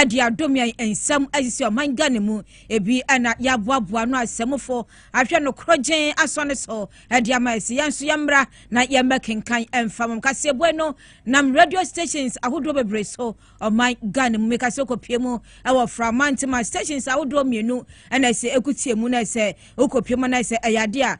de adom yɛn nsam asisi ɔman Ghana mu. Ebi na yɛaboaboa ano asɛmfo ahwɛ no korɔgyenn asɔ no so de ama yɛn. Sɛ yɛn nso yɛmmra na yɛmmɛkenkan mfa wɔn kaseɛbue no nam radio stations ahodoɔ bebree so ɔman Ghana mu. Meka sɛ wokɔpie mu wɔ Framantima stations ahodoɔ mmienu na ɛsɛ ɛkutie mu na ɛsɛ wokɔpie mu na ɛsɛ ɛyɛ adeɛ a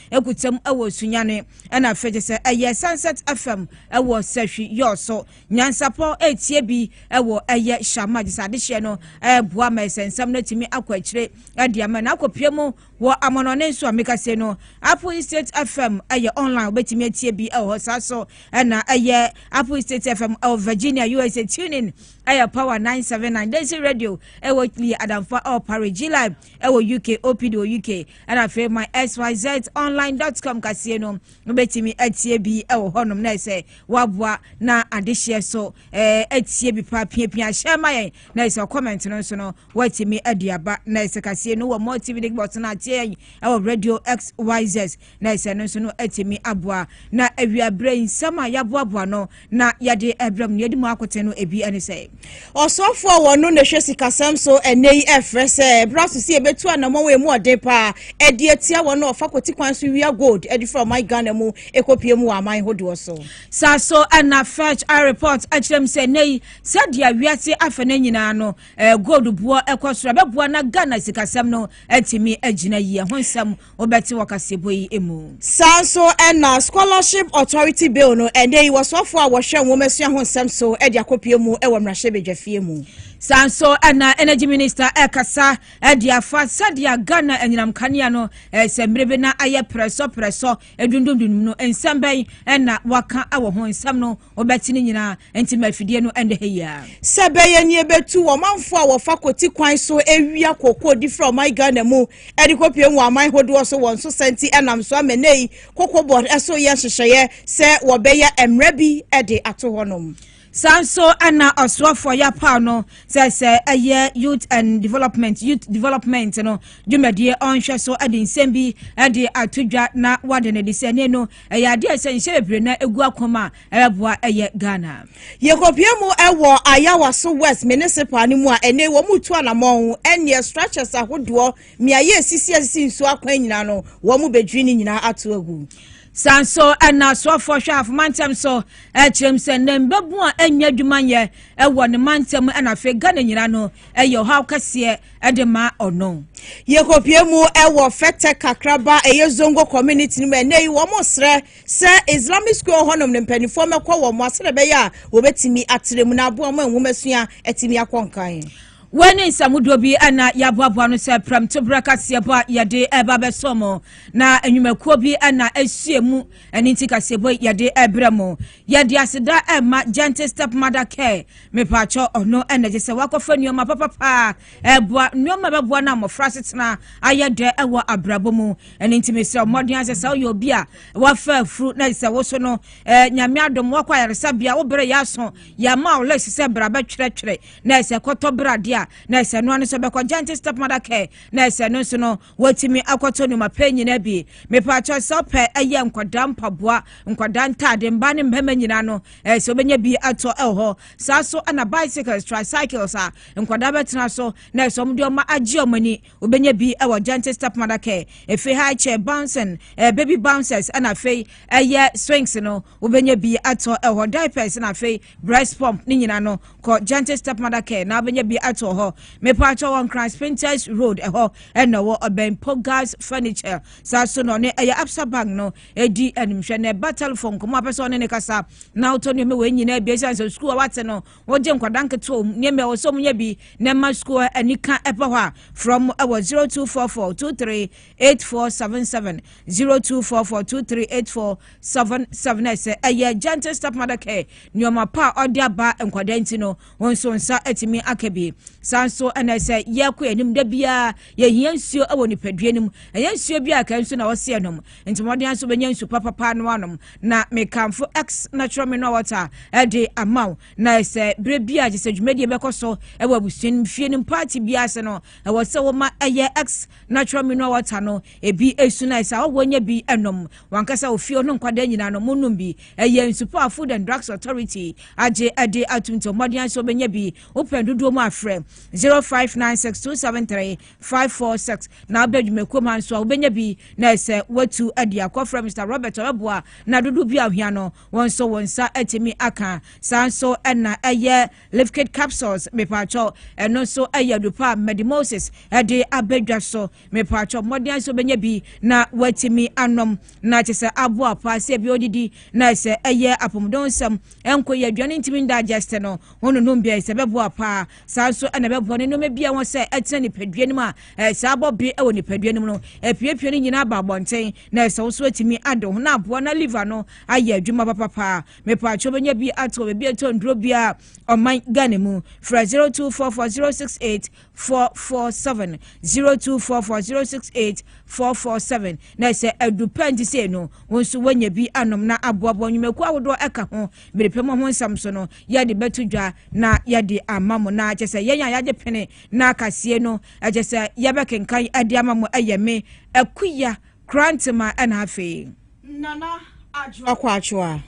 egu tsam wɔ Sunyani na afei gye sɛ ɛyɛ Sunset FM wɔ Sahwi Yɔɔ so. Nyansapɔ etie bi wɔ ɛyɛ Hyɛama gye sɛ adehyeɛ no boa ma ɛsɛ nsɛm no atumi akɔ akyire de ama na akɔpie mu wɔ amanɔne nso a meka sei no Apple Estate FM ɛyɛ online wobɛtumi atie bi wɔ hɔ saa so ɛna ɛyɛ Apple Estate FM ɛwɔ Virginia USA tuning ɛyɛ Power 979 Daisy Radio ɛwɔ Lee Adamfa Ɔpare July ɛwɔ uk opd wɔ uk ɛna afei my xyz online dot com kaseɛ no wobɛtumi atie bi ɛwɔ hɔnom na ɛsɛ waboa na adehyeɛ so ɛɛ atie bi paa piapia hyɛ ma yɛn na ɛsɛ comment no nso no wɔatumi adi aba na ɛsɛ kaseɛ no wɔ multividic bɔs no atie yɛn ɛwɔ radio xyz na ɛsɛ no nso no atumi aboa. Na awiaberɛ nsɛm a yɛaboaboa no na yɛde ɛbrɛ mu no yɛde mu akoten no ebi ne sɛ ɔsɔfoɔ a wɔno na ɛhwɛ sikasɛm so ɛnɛ yi ɛfrɛ sɛ ɛberɛ so sɛ yɛbɛtu anammɔn wɔ ɛmu ɔden paa ɛde atia wɔn a ɔfa kɔti kwan so wia gold ɛde firi ɔman Ghana mu ɛkɔpie mu wɔ aman hodoɔ so. Saa so ɛna Fetch a report akyerɛ mu sɛ ɛnɛ yi sɛdeɛ wiase afɛ no nyinaa no gold boɔ ɛkɔ soro ɛbɛboa na Ghana sikasɛm no atumi agyina yie ho nsɛm wobɛte wɔ kaseɛbɔ yi mu. saa nso na scholarship authority bill no ɛnɛ yi wɔsoafoɔ a wɔhwɛ nwomasua ho nsɛm so de akɔpie mu wɔ mmarahyɛbadwafie mu saa nso na energy minister ɛkasa de afa sɛdeɛ ghana anyinam kanea no sɛ mmere bi na ayɛ prɛsɔ prɛsɔ edundundundum no nsɛm bɛn na waka wɔ ho nsɛm no wɔbɛte no nyinaa, enti ma afidie no nnɛ ha yi ara. Sɛ ɛbɛyɛ nea ɛbɛtu ɔmanfoɔ a wɔfa kwati kwan so awia kookoo de firi ɔman Ghana mu de kɔpue wɔ aman hodoɔ so wɔn so sa nti, ɛnam so ama nnɛ yi Cocoa Board so yɛ nhyehyɛeɛ sɛ wɔbɛyɛ mmara bi de ato hɔnom. saa nso na ɔsoafoɔ yɛapaw no sɛ sɛ ɛyɛ youth and development youth development no dwumadie ɔnhwɛ so de nsɛm bi de ato dwa na wade no de sɛ ne no ɛyɛ adeɛ a ɛsɛ nhyɛ bebree na egu akɔm a ɛbɛboa ɛyɛ ghana. yɛkɔpie mu ɛwɔ ayawa so west municipal no mu a ɛnɛ wɔn mu tu anamɔn ɛneɛ structures ahodoɔ mmeaeɛ esisi esisi nsuo akwan nyinaa no wɔn mu bɛdwiri ne nyinaa ato agu. san so ɛna soɔfoɔ hwɛ afoma ntɛm so ɛkyerɛm sɛ ne mbɛbu a ɛnyɛ adwuma nyɛ ɛwɔ ne ma ntɛm ɛna afei ghana nyinaa no ɛyɛ ɔhaw kɛseɛ de ma ɔno. Yɛkɔpie mu wɔ Fɛtɛ Kakraba ɛyɛ Zongo community no mu ɛnɛ yi wɔn srɛ sɛ Islamic school hɔnom no mpanimfoɔ mɛkɔ wɔn mo asɛdɛ bɛyɛ a wɔbɛtumi atrɛ mu na aboa mu nwoma sua atumi akɔ nkan. Wei ne nsamudoɔ bi na yɛaboaboa no sɛ prɛmto berɛ kaseɛbɔ a yɛde ɛba bɛsɔ mo na nnwumakuo bi na ahyia mu ɛne nti kaseɛbɔ yɛde ɛbrɛ mo yɛde aseda ɛma Gentle Step Mother Care Mepakyɛw, ɔno na ɛsɛ sɛ wɔakɔfa nneɛma papapa a ɛboa, nneɛma a ɛbɛboa na mmɔfra asetena ayɛ dɛ wɔ abrabɔ mu. Ɛno nti mesrɛ mmɔden asɛ sɛ woyɛ obi a wafa afuru na sɛ wo so no, eh, nyame adom wakɔ ayaresabea, wo berɛ yɛ aso, yɛama wo list sɛ bra bɛtwerɛtwerɛ, na ɛsɛ kɔtɔ berɛ adeɛ a, na ɛsɛ noa no sɛ bɛkɔ Giant Stepmother Care, na ɛsɛ no nso no Watumi akɔtɔ nneɛma pɛ nyinaa bi. Mepaakyɛw sɛ ɔpɛ ɛyɛ nkwadaa mpaboa, nkwadaa ntaade, mmaa ne mmarima nyinaa no, ɛɛ sɛ obɛnya bi atɔ ɛwɔ hɔ. Saa so ɛna bicycles, tricycles a nkwadaa bɛtena so na ɛsɛ wɔn de wɔn agye wɔn ani. Obɛnya bi ɛwɔ Gentle Stepmother Care. Efi high chair bouncing, ɛɛ baby bouncers ɛna afei ɛyɛ swings no. Wobɛnya bi atɔ ɛhɔ, diapers na afei breast pump ne nyina no kɔ Gentle Stepmother Care na wobɛnya bi atɔ ɛhɔ. Mepɛ atɔ wɔ Nkran Spintex Road ɛhɔ ɛna ɛwɔ ɔbɛn Pogas Furniture saa so na ɔne ɛyɛ Absa Bank no ɛdi animhwɛ na ɛba telephone nkɔmɔ apɛ sɛ ɔne ne kasa na wotɔ nneɛma wei nyinaa bi ɛsiane sɛ sukuu a wate no wogye nkwadaa nketewa wɔ mu nneɛma ɛwɔ sɛ ɔmo nya bi na ɛma sukuu anika ɛpɛ hɔ a frɛ ɔmo ɛwɔ 0244 23 eight four seven seven zero two four four two three eight four seven seven ɛsɛ ɛyɛ gentle stepmother care nneɛma pa a ɔde aba nkwadaa nti no wɔn nso nsa atumi aka bi saa nso ɛna ɛsɛ yɛkɔ yɛn anim da biara yɛhia nsuo wɔ nipadua no mu ɛyɛ nsuo bi a kan nso na ɔseɛ nom nti wɔde nso bɛnya nsu papapa no anom na mekanfo x natural mineral water ɛde ama wo na ɛsɛ bere bi a gye sɛ dwumadie bɛkɔ so ɛwɔ abusua no fie no party biara ase no ɛwɔ sɛ woma ɛyɛ x natural mineral water no ebi esu na ɛsɛ awɔ nyɛ bi ɛnom wankasa ofie ɔno nkwadaa nyinaa no mo nom bi ɛyɛ nsupɔ a food and drugs authority agye ɛde atum nti ɔmɔden ayɛ sɛ ɔbɛnya bi wopɛn dodoɔ mu afrɛ zero five nine six two seven three five four six na abɛ dwumakuo ma nso a wobɛnya bi na ɛsɛ watu ɛde akɔfrɛ mr robert ɔbɛboa na dodo bi ahwia no wɔn nso wɔn nsa atumi aka saa nso ɛna ɛyɛ Liquid capsules mepatwɔ ɛno nso ɛyɛ adupa a Medi Moses ɛde abɛdwa so mepatwɔ mmɔden nso bɛnya bi na watumi anom na kyɛ sɛ aboa paa sɛ bi odidi na ɛsɛ ɛyɛ apɔmuden nsɛm ɛnko yɛ aduane ntumi ndigest no wɔn nonum bi ɛsɛ bɛboa paa saa nso ɛna bɛboa ne nneɛma bi a wɔn sɛ ɛtena nipadua no mu a ɛsɛ abɔ be ɛwɔ nipadua no mu no epiepie ne nyinaa ba abɔnten na ɛsɛ wɔn nso atumi ade ho na aboa na liver no ayɛ adwuma papapaa Mepatwo benya bi ato baabi ɛtɔ nduro bia ɔman Ghana mu. Frɛ 0244068447 0244068447 na sɛ adu pɛ nti sei no wo nso woanya bi anom na aboaboa nnwumakuo ahodoɔ ɛka ho mede pɛ mu ho nsɛm so no yɛde bɛto dwa na yɛde ama mo na kyɛ sɛ yɛn a yɛagye pene na akasie no ɛkyɛ sɛ yɛbɛkenkan ɛde ama mo ɛyɛ me akuya Krantema na afei. Nana Adwoa Kwakyewa.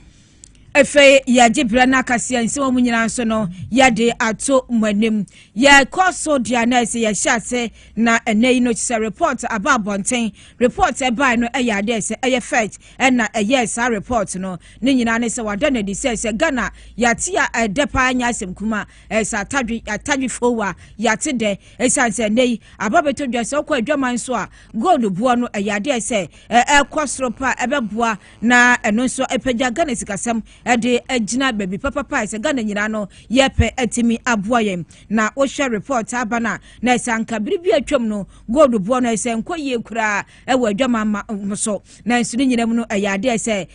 Afei yɛgye berɛ no akaseɛ nsɛm a mu nyinaa nso no yɛde ato mo anim yɛkɔ so deɛ a na ɛsɛ yɛhyɛ ase na ɛnɛ yi no kyerɛ report aba abɔnten report ɛbae no ɛyɛ adeɛ sɛ ɛyɛ fact ɛna ɛyɛ saa report no ne nyinaa ne sɛ wada no adi sɛ sɛ Ghana yɛate a ɛdɛ paa nyɛ asɛm kuma ɛsɛ atadwe atadwe fowa yɛate dɛ ɛsiane sɛ ɛnɛ yi aba bɛtɔ dwa sɛ wokɔ adwaman so a gold boɔ no ɛyɛ adeɛ sɛ ɛkɔ soro pa ɛbɛboa na ɛno nso ɛpagya ghana sikasɛm ɛde agyina baabi papapa ɛsɛ ghana nyinaa no yɛpɛ atumi aboa yɛn na wohwɛ report aba no a na ɛsɛ anka bere bi atwam no gold boɔ no ɛsɛ nkɔ yie koraa ɛwɔ adwama ma ho so na nso ne nyinaa mu no ɛyɛ adeɛ sɛ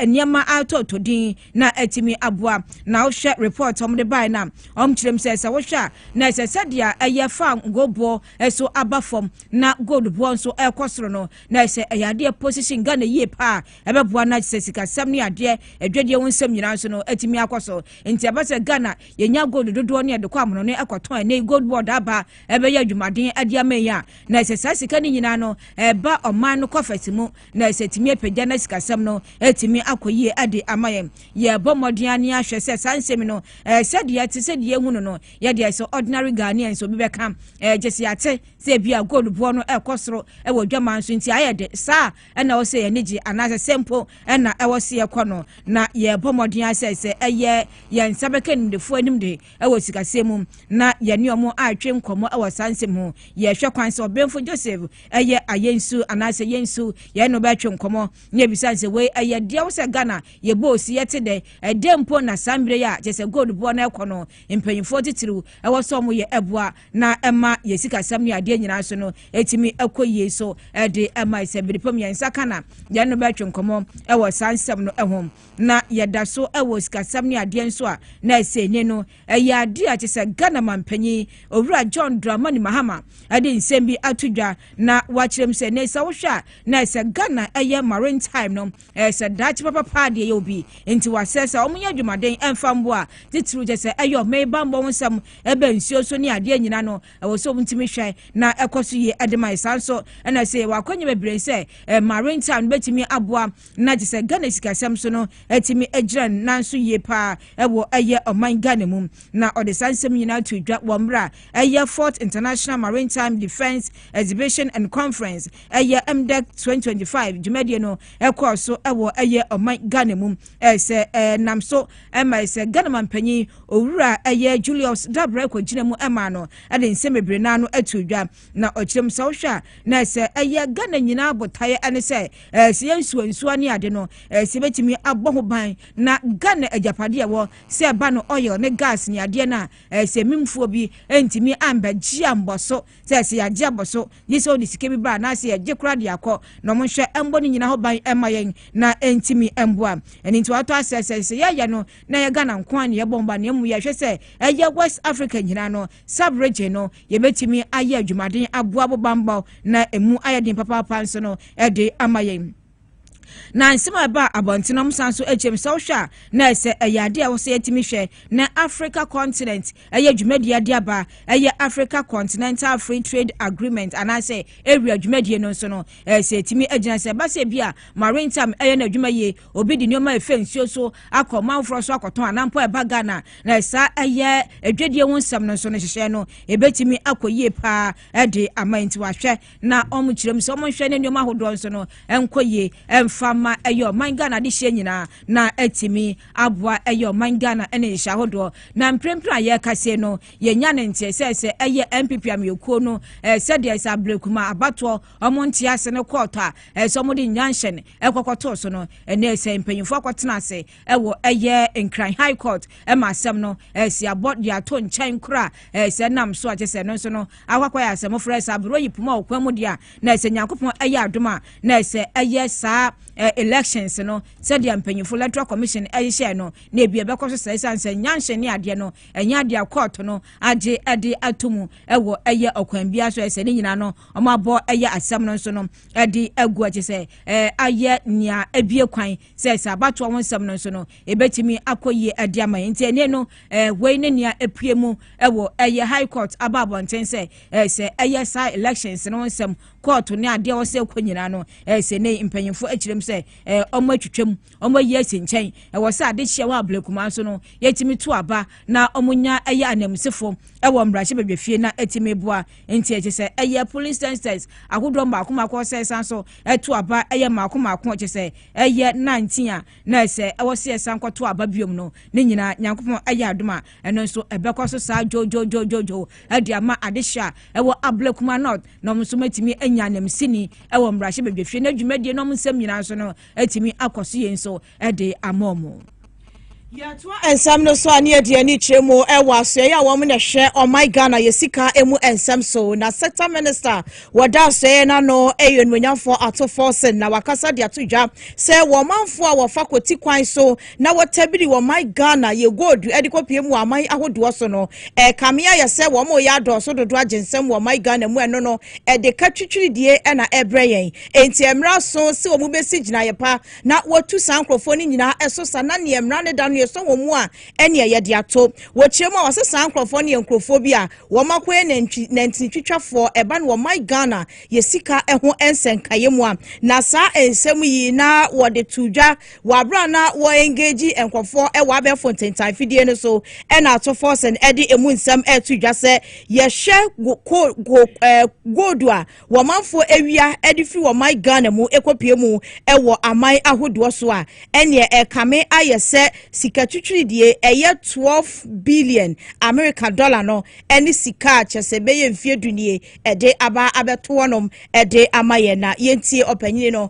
nneɛma atɔtɔ din na atumi aboa na wohwɛ report wɔn de bae na wɔn kyerɛm sɛ sɛ wohwɛ a na ɛsɛ sɛdeɛ ɛyɛ fa gold boɔ nso aba fam na gold boɔ nso ɛrekɔ soro no na ɛsɛ ɛyɛ adeɛ position Ghana yie paa ɛbɛboa na sɛ sikasɛm ne adeɛ adwadie ho nsɛm nyinaa nso no atumi akɔ so nti ɛbɛ sɛ Ghana yɛnya gold dodoɔ ne ɛde kɔ amono ne ɛkɔtɔn ɛnɛ gold board aba ɛbɛyɛ adwumaden ade ama yi a na ɛsɛ saa sika no nyinaa no ɛba ɔman no kɔfɛse mu na ɛsɛ tumi apagya na sikasɛm no atumi akɔ yie ɛde ama yɛn yɛbɔ mmɔden ne ahwɛ sɛ saa nsɛm no ɛsɛ deɛ ɛte sɛ deɛ ehunu no yɛ deɛ sɛ ordinary ghanaian sɛ obi bɛka ɛɛ gyesi ate sɛ ebi a gold boɔ no ɛkɔ soro ɛwɔ dwaman so nti ayɛ de saa ɛna ɔsɛ yɛn ani gye anaasɛ sɛ mpo ɛna ɛwɔ se yɛ kɔ no na yɛbɔ mmɔden asɛ sɛ ɛyɛ yɛn nsa bɛka nimdefoɔ anim de ɛwɔ sikasɛm mu na yɛne ɔmo atwe nkɔmɔ ɛwɔ saa nsɛm ho yɛhwɛ kwan sɛ ɔbɛnfo joseph ɛyɛ ayɛ nsu anaasɛ yɛ nsu yɛn no bɛtwe nkɔmɔ ne ebisa sɛ wei ɛyɛ deɛ wosɛ ghana yɛbɔ osi yɛte dɛ ɛdɛ mpo na saa mmerɛ yi a kyɛ sɛ gold boɔ no ɛkɔ no mpanyimfoɔ titiriw ɛwɔ sɛ wɔn yɛ ɛboa na ɛma yɛ sikasɛm ne adeɛ nyinaa so no ɛtumi ɛkɔ yie so ɛde ɛma sɛ biripam yɛn nsa ka na yɛn no bɛtwe nkɔmɔ ɛwɔ saa nsɛm no ɛho na yɛda so ɛwɔ sikasɛm ne adeɛ nso a na ɛsɛ ne no ɛyɛ adeɛ a kyesɛ Ghana mampanyin owura John Dramani Mahama ɛde nsɛm bi ato dwa na wakyerɛm sɛ ne sɛ wohwɛ a na ɛsɛ Ghana ɛyɛ maritime no Ɛyɛ sɛ daakye papa paa deɛ ɛyɛ obi nti wasɛ sɛ wɔn nyɛ adwumaden ɛnfa mboa titiriw kyɛ sɛ ɛyɛ ɔmɛ yi bammɔ ho nsɛm ɛbɛ nsuo so ne adeɛ nyinaa no ɛwɔ sɛ wɔn ntumi hwɛ na ɛkɔ so yie ɛde ma ɛsan so ɛna sɛ yɛwɔ akɔnya bebree sɛ ɛmarin time no bɛtumi aboa na kyɛ sɛ Ghana sikasɛm so no ɛtumi agyina nan so yie paa ɛwɔ ɛyɛ ɔman Ghana mu na ɔde saa nsɛm nyinaa to dwa wɔ mmerɛ a ɛyɛ Fort International Maritime Defence Exhibition and Conference ɛyɛ mdec 2025 dwumadie no ɛkɔɔ so ɛwɔ ɛyɛ ɔman ghana mu ɛsɛ ɛnam so ɛma ɛsɛ ghana mampanyin owura ɛyɛ julius dabra ɛkɔ gyina mu ɛma no ɛde nsɛm bebree naa no ɛto dwa na ɔkyerɛm sɛ wohwɛ a na ɛsɛ ɛyɛ ghana nyinaa botaeɛ ɛne sɛ ɛsɛ yɛ nsuo nsuo ne ade no ɛsɛ bɛtumi abɔ ho ban na ghana agyapadeɛ wɔ sɛ ɛba no oil ne gas ne adeɛ no a ɛsɛ mimfoɔ bi ɛntumi ambɛgye ambɔ so sɛ sɛ yɛagye abɔ so gye sɛ ɔde sika bi ba anaasɛ yɛgye koraa de akɔ na ɔmo nhwɛ ɛmbɔ ne nyina ho ban ɛmma yɛn na ɛntimi ɛmboa ɛne nti wɔatɔ asɛ sɛ sɛ yɛyɛ no na ɛyɛ Ghana nko a ne yɛbɔ mba na emu yɛhwɛ sɛ ɛyɛ West Africa nyinaa no sub region no yɛbɛtumi ayɛ adwumaden aboa bo bambɔ na emu ayɛ den papaapa nso no ɛde ama yɛn. na nsɛm a ɛbaa abɔnten no san so akyerɛ mu sɛ wohwɛ a na ɛsɛ ɛyɛ ade a wɔsɛ yɛtumi hwɛ na africa continent ɛyɛ dwumadie ade aba ɛyɛ africa continental free trade agreement anaasɛ ewia dwumadie no nso no ɛsɛ ɛtumi agyina sɛ ɛba sɛ bi a maritime ɛyɛ no adwuma yie obi de nneɛma ɛfɛ nsuo so akɔ manfoɔ so akɔtɔn anampo ɛba ghana na ɛsa ɛyɛ adwadie ho nsɛm no nso no hyehyɛ no ɛbɛtumi akɔ yie paa ɛde ama nti wahwɛ na wɔn kyerɛ mu sɛ wɔn nhwɛ ne nneɛma ahodoɔ nso no nkɔ yie mfa ma ɛyɛ ɔman ghana adehyeɛ nyinaa na atumi aboa ɛyɛ ɔman ghana ne nhyɛ ahodoɔ na mprempren a yɛreka sei no yɛnya ne nteɛ sɛ sɛ ɛyɛ npp ameɛkuo no eh, sɛdeɛ sɛ aberekuma abatoɔ wɔn nte ase no kɔɔtɔ a ɛsɛ eh, wɔn de nyanhyɛn ɛkɔkɔtoo so no ɛnɛ sɛ mpanyinfoɔ akɔtena ase ɛwɔ ɛyɛ nkran high court ɛma asɛm no ɛsi abɔ de ato nkyɛn kora ɛsɛ nam so a kyɛ sɛ no nso no akwakwa yɛ asɛm frɛ sɛ aburo yi poma ɔkwan mu deɛ na ɛsɛ nyankopɔn ɛyɛ adom a na ɛsɛ ɛyɛ saa elections no sɛdeɛ mpanyinfo electoral commission ɛhyehyɛ no na ebi ɛbɛkɔ so sɛ ɛsan sɛ nyanhyɛ ne adeɛ no ɛnyɛ adeɛ akɔɔto no agye ɛde ato mu ɛwɔ ɛyɛ ɔkwan biara so ɛsɛ ne nyinaa no wɔn abɔ ɛyɛ asɛm no nso no ɛde agu ɛkyɛ sɛ ɛɛ ayɛ nea ebie kwan sɛ sɛ abatoɔ ho nsɛm no nso no ɛbɛtumi akɔ yie ɛde ama yɛn nti ɛnɛ no wei ne nea ɛpue mu ɛwɔ ɛyɛ high court aba abɔnten sɛ sɛ ɛyɛ saa elections no nsɛm court ne adeɛ wɔ sɛ ɛkɔ nyinaa no sɛ ne mpanyinfo akyerɛm sɛ ɔmo atwitwam ɔmo ayi asi nkyɛn ɛwɔ sɛ ade hyia wɔ abulakuma so no yɛtumi to aba na ɔmo nya ɛyɛ anamsefo ɛwɔ mmarahyɛ badwafie na ɛtumi boa nti ɛkyɛ sɛ ɛyɛ police testers ahodoɔ mmaako mmaako sɛ san so ɛto aba yɛ mmaako mmaako a kyerɛ sɛ ɛyɛ nantin a na ɛsɛ ɛwɔ sɛ yɛsan kɔto aba biom no ne nyinaa nyankopɔn ayɛ adom a ɛno nso ɛbɛkɔ so saa dwodwodwodwodwo ɛde ama adehyɛ a ɛwɔ abla kuma north na wɔn nso mɛtumi anya anamsini ɛwɔ mmarahyɛ badwafie no adwumadie na wɔn nsɛm nyinaa nso no ɛtumi akɔ so yɛn nso de ama wɔn. yɛtoa nsɛm no so a ne yɛde ani kyerɛ mu wɔ asoɛeɛ a wɔn na ɛhwɛ ɔman ghana yɛ sika mu nsɛm so na sector minister wɔda asoɛeɛ no ano yɛ onimonyamfoɔ ato fɔsen na wakasa de ato dwa sɛ wɔn manfoɔ a wɔfa kɔti kwan so na wɔtabiri ɔman ghana yɛ gold de kɔpie mu aman ahodoɔ so no ɛkame ayɛ sɛ wɔn yɛ adɔɔso dodo agye nsɛm wɔ ɔman ghana mu ɛno no ɛde ka twitwiridie na ɛbrɛ yɛn enti ɛmmra so sɛ wɔn bɛsi gyinaeɛ pa na wɔtu saa nkurɔfoɔ no nyinaa ɛso sa na neɛ mmara no da no yɛsɔ wɔn mu a ɛneɛ yɛde ato wɔkyerɛ mu a wɔsɛ saa nkurɔfoɔ no yɛ nkurɔfoɔ bi a wɔn akɔyɛ nantwi nantinitwitwafoɔ ɛba no wɔman Ghana yɛ sika ɛho ɛnsɛnkaeɛ mu a na saa nsɛm yi na wɔde to dwa wɔ abere a na wɔ engage nkurɔfoɔ ɛwɔ abɛɛfo ntentan fidie no so ɛna ato fɔsɛn ɛde emu nsɛm ɛto dwa sɛ yɛhwɛ go go ɛɛ gold a wɔn manfoɔ awia de firi wɔn man Ghana mu kɔpue mu wɔ aman ahodoɔ so a, ɛneɛ ɛrekame ayɛ sɛ sika twitwiridie ɛyɛ 12 billion Amerika dɔla no ne sika a kyɛ sɛ bɛyɛ mfeɛ du nie ɛde aba abɛto hɔnom de ama yɛn. Na yɛntie ɔpanyini no.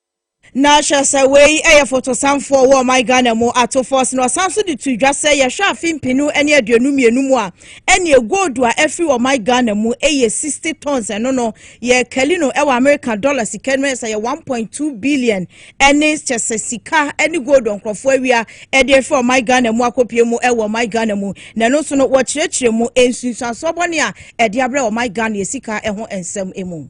Na hwɛ sɛ wei yɛ fotosanfoɔ wɔ ɔman Ghana mu ato fɔs na ɔsan so de to dwa sɛ yɛhwɛ afe mpenu ne aduonu mmienu mu a ɛneɛ gold a afiri ɔman Ghana mu yɛ 60 tons ɛno no yɛ kali no wɔ Amerika dɔla sika no ɛsɛ yɛ 1.2 billion ɛne kyɛ sɛ sika ɛne gold nkurɔfoɔ awia ɛde afiri ɔman Ghana mu akɔpie mu ɛwɔ ɔman Ghana mu na ɛno nso no wɔkyerɛkyerɛ mu nsunsuansoɔ bɔne a ɛde abrɛ ɔman Ghana yɛ sika ɛho nsɛm mu.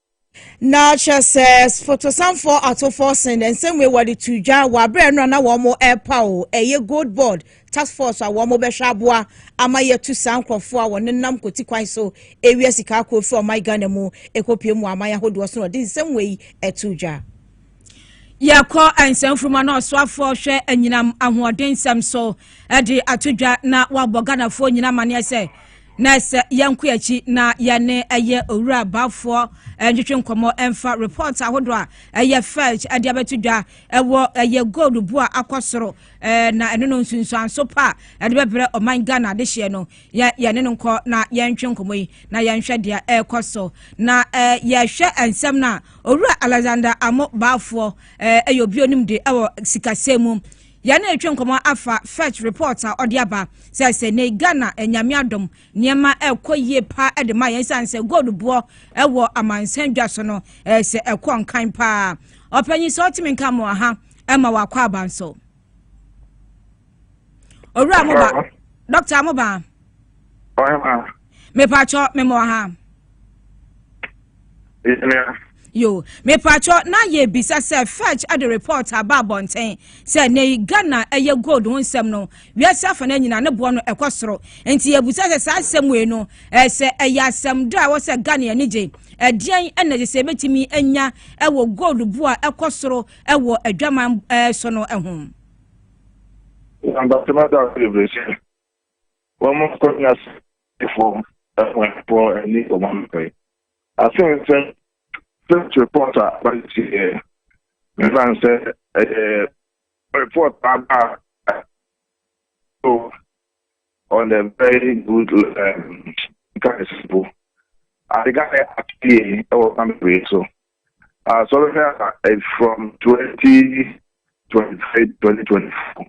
Na kyerɛ sɛ fotosanfoɔ atofoɔ sen dɛ nsɛm wei wɔde to dwa wɔ abere ɛno a na wɔn ɛrepa o ɛyɛ gold board task force a wɔn bɛhwɛ aboa ama yɛtu saa nkorɔfoɔ a wɔn nam kɔti kwan so ewia sika akɔ firi ɔman Ghana mu ɛkɔpie mu aman ahodoɔ so na wɔde nsɛm wei ɛto dwa. Yɛkɔ nsɛmfuruma na ɔsoafoɔ hwɛ anyinam ahoɔdensɛm so de ato dwa na wabɔ Ghanafoɔ nyina amaneɛ sɛ na ɛsɛ yɛnko akyi na yɛne ɛyɛ owura baafoɔ ntwetwe nkɔmmɔ ɛmfa report ahodoɔ a ɛyɛ fetch de abɛto dwa ɛwɔ ɛyɛ gold bu a akɔ soro na ɛno no nsunsuanso pa a ɛde bɛbrɛ ɔman Ghana de hyeɛ no Yɛ yɛne no nkɔ na yɛntwe nkɔmmɔ yi na yɛnhwɛ deɛ ɛrekɔ so. Na eh, yɛhwɛ nsɛm no a, Owura Alexander Amo Baafoɔ eh, yɛ obi onim de wɔ sikasɛm mu. Yɛne retwe nkɔmmɔ afa Fetch report a ɔde aba sɛ sɛ ne Ghana eh, Nyame adom nneɛma ɛrekɔ yie paa eh, de ma yɛn sane sɛ gold boɔ eh, wɔ amansan dwa so no eh, sɛ ɛkɔ nkan paa. Ɔpanyin sɛ ɔtumi nka mo aha eh, ma wakɔ abanso. owura mo ba dɔkta mo ba mepatwɔ memɔ ha yo mepatwɔ na yɛbisa sɛ fetch de report aba abɔnten sɛ ne ghana ɛyɛ gold ho nsɛm no wiase afa no nyina ne boɔ no ɛkɔ soro nti yɛbusa sɛ saa asɛm wei no ɛsɛ ɛyɛ asɛm da a ɛwɔ sɛ ghana ani gye ɛdeɛn ɛna ɛsɛ sɛ ɛbɛtumi anya ɛwɔ gold boɔ a ɛkɔ soro wɔ adwaman so no ho. Na Bartimaeus da so bebree sɛ, Wɔmma nkɔnya sɛnkyerɛwfo ahuafoɔ ani wɔn anɔpa yi. Afe nsɛm First report a bade tieɛ na ɛsiane sɛ ɛyɛ report a aba so on a very good um, nkaeɛsɛmpo. Adegaeɛ atie wɔ kwan bebree so. Asɔre a ɛyɛ from twenty twenty three twenty twenty four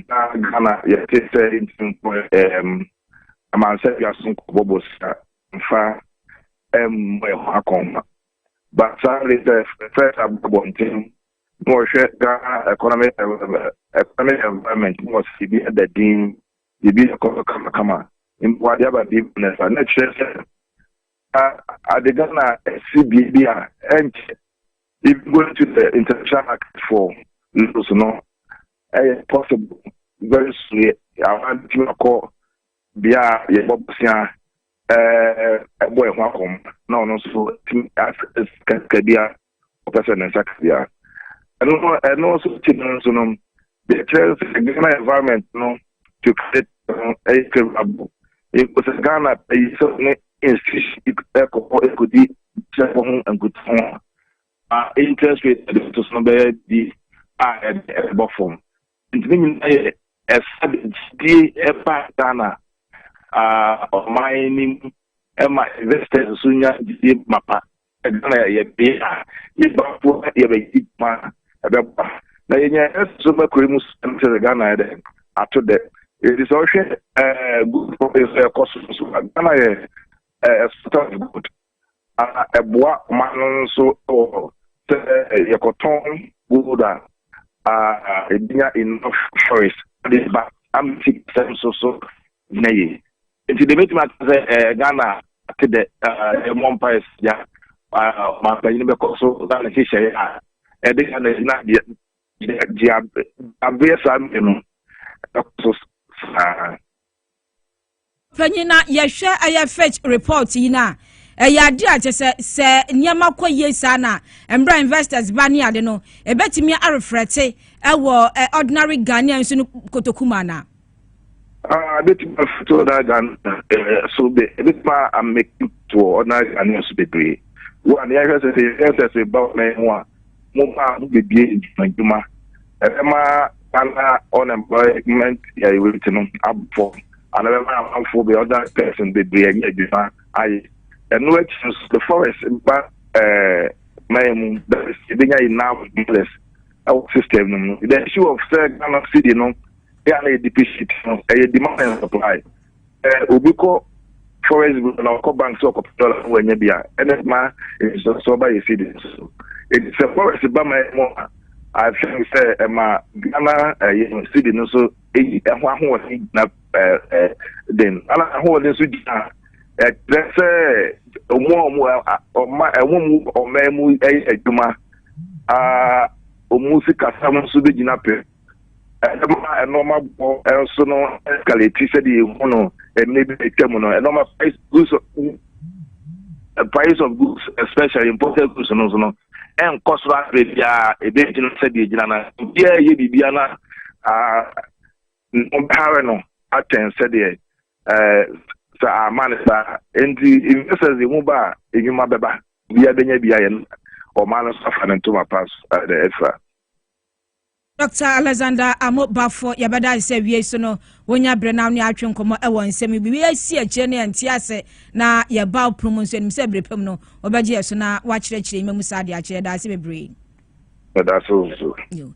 na Ghana yɛte sɛ nti nkɔ ɛɛm amansa bi aso nkɔ bɔbɔ sika nfa ɛmmɔ ɛho akɔnma but saa de sɛ fɛs abɔbɔ ntɛm na wɔhwɛ Ghana economic economic environment na wɔsi bi ɛda din bibi ɛkɔ so kamakama mpo adeɛ aba bi na ɛsa na ɛkyerɛ sɛ Na ade Ghana si bea bi a ɛnkyɛ even going to the international market for noodles no ɛyɛ possible very soon yɛ awa betumi akɔ bea a yɛbɔ bosea ɛɛ ɛbɔ ɛho akɔm na ɔno nso tumi asika bi a ɔpɛ sɛ ne nsa ka bi a. Ɛno no, ɛno nso akyi no nso no, deɛ ɛkyerɛ sɛ Ghana environment no to credit no ɛyɛ favorable. Mpo sɛ Ghana pɛ yi sɛ ne institution bi ɛkɔ hɔ ɛkɔdi kyɛfo ho nkutaho a, ma interest rate ɛde bɛto so no bɛyɛ bi a ɛde ɛbɛbɔ fam. Nti ne nyinaa yɛ ɛsa de gyidie ɛba Ghana ɔman no mu ɛma investors nso nya gyidie mapa Ghana yɛ bea a Yɛbafo na yɛbɛyɛ dwuma a ɛbɛboa na yɛanya yɛn so makura mu sika no kyerɛ sɛ Ghana ayɛ dɛ ato dɛ. Enti sɛ wohwɛ ɛɛ gold province a ɛkɔ so nso a, Ghana yɛ ɛɛ exporter of gold a ɛboa ɔman no nso wɔ sɛ yɛkɔtɔn gold a aa ebinya enough choice de ba ama sika sɛm nso so gyina yie. Nti deɛ mɛtumi aka sɛ eh, Ghana ate dɛ yɛmmɔ eh, mpaeɛ sɛ ɔmampanyin ah, bɛkɔ so na ne hyehyɛeɛ a ɛde Ghana gyina gyeabeɛ saa mmere no ɛkɔ so saa panyin na yɛhwɛ ɛyɛ fitch report yi no a ɛyɛ ade a kyɛ sɛ sɛ nneɛma kɔ yie saa na mmerɛ investors ba ne ade no ɛbɛtumi arefrɛte ɛwɔ ordinary ghanaian nso no kotoku mu anaa Ah, ebetumi afiti ɔno agane eh, so be ebetumi ameki to ɔno agane so bebree. Wo a ne yɛhwɛ sɛ sɛ yɛhwɛ sɛ sɛ ba ɔman ho a mo ba ho bebie ndwumadwuma ɛbɛma ana unemployment rate no abɔ ana bɛma amanfoɔ bɛ ɔda person bebree anya adwuma ayɛ. Ɛno akyi nso the forest ba ɛɛ man mu that is ebenya enough dollars ɛwɔ system no mu. The issue of sɛ Ghana city no. yɛ a na yɛ deposit no ɛyɛ demand and supply ɛ obi kɔ forest bu na ɔkɔ bank sɛ ɔkɔpɛ dɔla na wanya bi a ɛna ma nsonsoɔ ba yɛ sidi so ɛti sɛ forest ba ma ɛmu a I think sɛ ɛma Ghana ɛyɛ eh, sidi no so ɛyi ɛho ahoɔden gyina ɛɛ ɛɛ den ɛna ahoɔden nso gyina ɛkyerɛ sɛ ɔmo a ɔmo ɔma ɛmo mu ɔmaa mu ɛyɛ adwuma aa ɔmo sikasɛm nso bɛgyina pɛ ɛma nneɛma bɔ nso no escalate sɛdeɛ ehu no ɛmɛ bi atwa mu no nneɛma price goods price of goods especially imported goods no nso no ɛnkɔ soro abere biara ebe gyina sɛdeɛ egyina na biara yɛ biribiara na aa ɔbɛhare no atɛn sɛdeɛ ɛɛ sɛ ama ne saa nti investors emu ba a enyuma bɛba biara bɛnya biara yɛ ɔmaa no nso afa ne ntoma pa so ɛɛ ɛfira. Dɔkta Alexander Amoh Baffour, Yɛbɛda ase sɛ awiei so no wonya bere na wo ne atwe nkɔmmɔ wɔ nsɛm yi bi asi akyire no yɛnte ase na yɛba wo pono mu nso. Yɛnim sɛ bere pa mu no wobɛgye yɛn so na woakyerɛkyerɛ yi mamu saa de akyerɛ. Yɛda ase bebree. Yɛda so nso.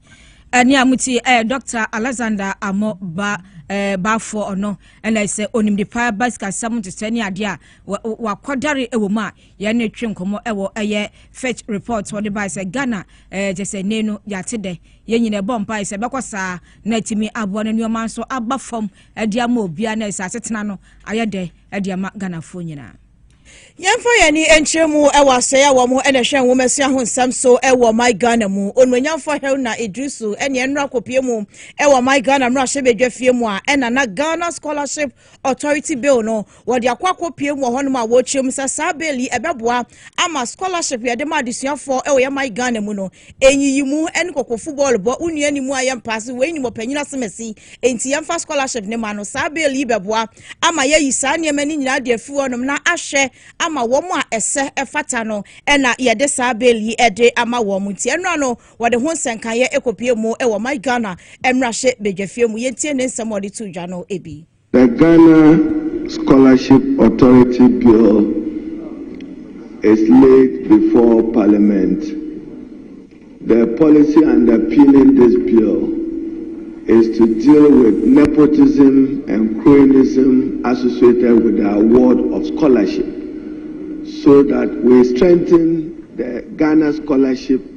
Ɛne a motie ɛyɛ Dɔkta Alexander Amoh ba eh, Baffour ɔno ɛna sɛ onimde paa ba sikasɛm ntetɛ ne adeɛ a wakɔdare wɔ mu a yɛn ne twe nkɔmmɔ ɛwɔ ɛyɛ fitch report wɔde bae sɛ ghana ɛɛ kyɛ sɛ ne no yɛate dɛ yɛn nyinaa ɛbɔ mpae sɛ ɛbɛkɔ saa na atumi aboa no nneɛma nso aba fam ɛde ama obiara na ɛsɛ asetena no ayɛ dɛ ɛde ama ghanafoɔ nyinaa yɛmfa yɛn ani nkyerɛ mu wɔ asɛe a wɔn na ɛhwɛ nwomasua ho nsɛm so wɔ my ghana mu onuonyamfo helena idrisu ne ɛnora kɔpie mu wɔ my ghana mmarahyɛ badwa fie mu a ɛna na ghana scholarship Authority Bill no, wɔde akɔ akɔpue mu wɔ hɔnom a wɔrekyerɛ mu sɛ saa bill yi ɛbɛboa ama scholarship yɛde ma adesuafoɔ wɔ yɛn man Ghana mu no, nyiyi mu ne kɔkɔfu bɔɔl bɔ, wo nua ni mu a yɛmpaase, wei nim ɔpanyin asemasi, enti yɛmfa scholarship no ma no. Saa bill yi bɛboa ama yɛayi saa nneɛma no nyinaa de afiri hɔnom na ahwɛ ama wɔn a ɛsɛ ɛfata no na yɛde saa bill yi de ama wɔn. Nti ɛno ano Wɔde ho nsɛnkaeɛ ɛkɔpue mu wɔ My Ghana mmarahyɛ badwafie mu. Yɛntie ne nsɛm a ɔde too dwa no bi. The Ghana Scholarship Authority Bill is laid before Parliament. The policy underpinning this bill is to deal with nepotism and cronyism associated with the award of scholarship so that we strengthen the Ghana scholarship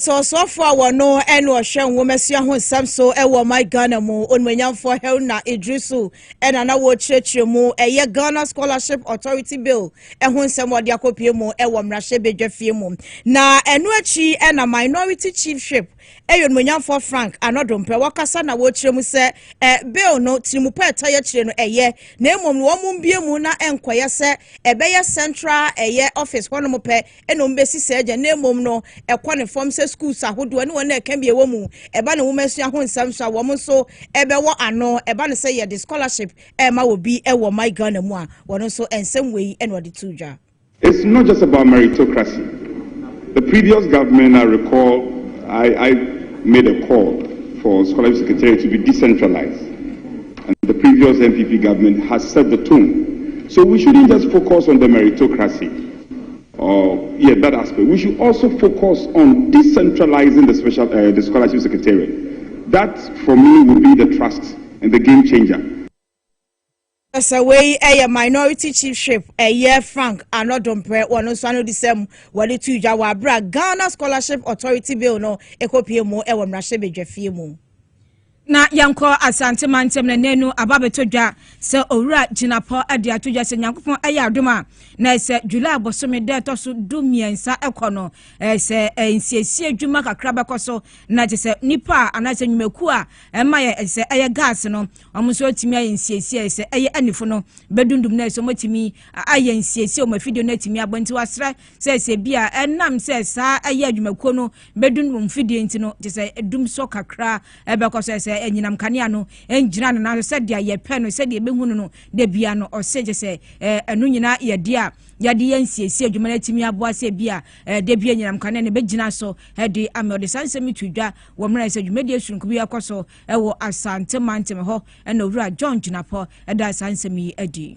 Sɛ ɔsoafoɔ a wɔno ɛne ɔhwɛ nwomasua ho nsɛm so wɔ ɔman Ghana mu, Onuonyamfoɔ Haruna Iddrisu ɛna na wɔrekyerɛkyerɛ mu. Ɛyɛ Ghana Scholarship Authority Bill ɛho nsɛm a ɔde akɔpue mu wɔ mmarahyɛ badwafie mu. Na ɛno akyi na Minority Chiefship ɛyɛ Onuonyamfoɔ Frank Anɔdomprɛ wɔkasa na wɔrekyerɛ mu sɛ ɛ Bill no tirimupɛ ɛtɔ yɛ akyire no ɛyɛ na mmom no wɔn mbue mu na ɛnkɔyɛ sɛ ɛbɛyɛ Central ɛyɛ Office hɔnom pɛ na wɔn bɛsi saa gya na mmom no ɛkɔ ne fam sɛ schools ahodoɔ ne wɔn a ɛka bi ɛwɔ mu ɛba ne nwoma sua ho nsɛm so a wɔn nso ɛbɛwɔ ano ɛba ne sɛ yɛde scholarship ɛma wɔ bi ɛwɔ my Ghana mu a wɔn nso nsɛm wei ɛna wɔde to dwa. It's not just about meritocracy. The previous government, I recall, I, I made a call for scholarship secretariat to be decentralized. And the previous NPP government has set the tone. So we shouldn't just focus on the meritocracy. yɛ that aspect we should also focus on decentralizing the special uh, the scholarship secretariat that for me will be the trust and the game changer. sɛ wei ɛyɛ minority chiefship ɛyɛ frank anɔdomprɛ wɔn nso ano di sɛm wɔde tu dwa wɔ abira ghana scholarship authority bill no ɛkɔpie mu ɛwɔ mmarahyɛ badwafie mu. Na yɛnkɔ Asante mantam na nanu aba bɛtɔ dwa sɛ Owura Gyinapɔ de ato dwa sɛ Nyankopɔn ɛyɛ adom a na ɛsɛ July bosome da ɛtɔ so du mmiɛnsa ɛkɔ no ɛsɛ nsiesie adwuma kakra bɛkɔ so na ɛte sɛ nipa a anaasɛ nnwumakuo a ɛma yɛ ɛsɛ ɛyɛ gas no wɔn nso atumi ayɛ nsiesie ɛsɛ ɛyɛ anifo no bɛdundum na ɛsɛ wɔn atumi ayɛ nsiesie wɔn afidie no atumi abɔ nti wasrɛ sɛ sɛ bi a ɛnam sɛ saa ɛyɛ adwumakuo no bɛdum wɔn mfidie nti no te sɛ ɛdum sɔ kakra ɛbɛkɔ sɛ sɛ ɛnyinam kanea no ɛngyina no nanso sɛ deɛ yɛpɛ no sɛ deɛ ɛbɛhu no no da bia no ɔse te sɛ ɛno nyina yɛde a yɛde yɛn siesie adwuma no atumi aboa sɛ bi a da bia nyinam kanea no bɛgyina so ɛde ama ɔde saa nsɛm to dwa wɔ mmerɛ sɛ dwumadie soronko bi ɛkɔ so ɛwɔ asante mantem hɔ ɛna owura John Gyinapɔ ɛda saa nsɛm yi adi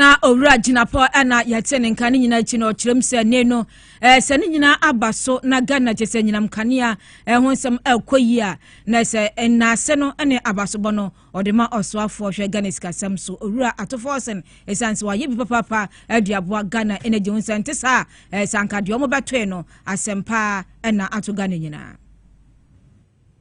Na owura gyinapɔ na yɛte ne nka ne nyinaa akyi no ɔkyerɛm sɛ ne no sɛ ne nyinaa aba so na Ghana kyɛ sɛ nyinam kanea ɛho nsɛm ɛkɔ yi a na sɛ nnaase no ne abasobɔ no ɔde ma ɔsoafoɔ hwɛ Ghana sikasɛm so owura atofɔɔsen ɛsiane sɛ wayɛ bi papaapa adi aboa Ghana ɛna gye ho sɛ nte saa sɛ anka deɛ ɔmo bɛtoe no asɛm paa ɛna ato Ghana nyinaa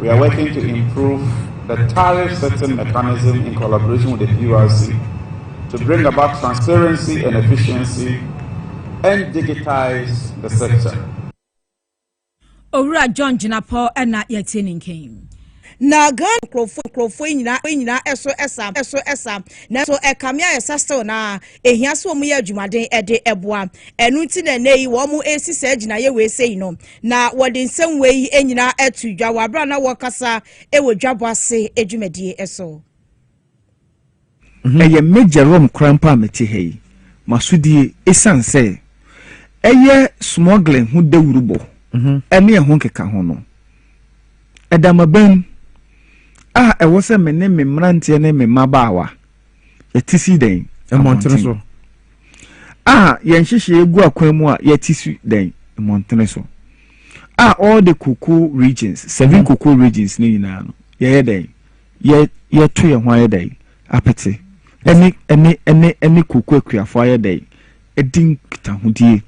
We are working to improve the tariff setting mechanism in collaboration with the PURC to bring about transparency and efficiency and digitize the sector. owura john gyinapɔ ɛna yɛtie ne nkɛn na ghana nkurɔfoɔ nkurɔfoɔ nyinaa nyinaa ɛso ɛsa ɛso ɛsa nanso ɛkame a ɛsa still na ehia so wɔn yɛ adwumaden ɛde ɛboa ɛnu ti na ɛnɛ yi wɔn esi sɛ gyinaeɛ wɔ ese yi no Na wɔde nsɛm wei nyinaa to dwa wɔ bere a na wɔrekasa wɔ dwabɔ ase dwumadie so. Ɛyɛ me Jerome Krampa a mete ha yi. M'asodie, esiane sɛ ɛyɛ smuggling ho dawurubɔ ne ɛho nkekaho no, ɛda m'abam a ɛwɔ sɛ me ne me mmeranteɛ ne me mmabaawa yɛte si dɛn? Mmɔntene so. A yɛn nhyehyɛeɛ gu akwan mu a yɛte si dɛn? Mmɔntene so. A all the cocoa regions, seven mm. cocoa regions ne nyinaa no, yɛyɛ dɛn? Yɛ yɛto yɛn ho ayɛ dɛn? Apete. Ɛne ɛne ɛne ɛne koko akuafo ayɛ dɛn? Ɛdi nkitahodie.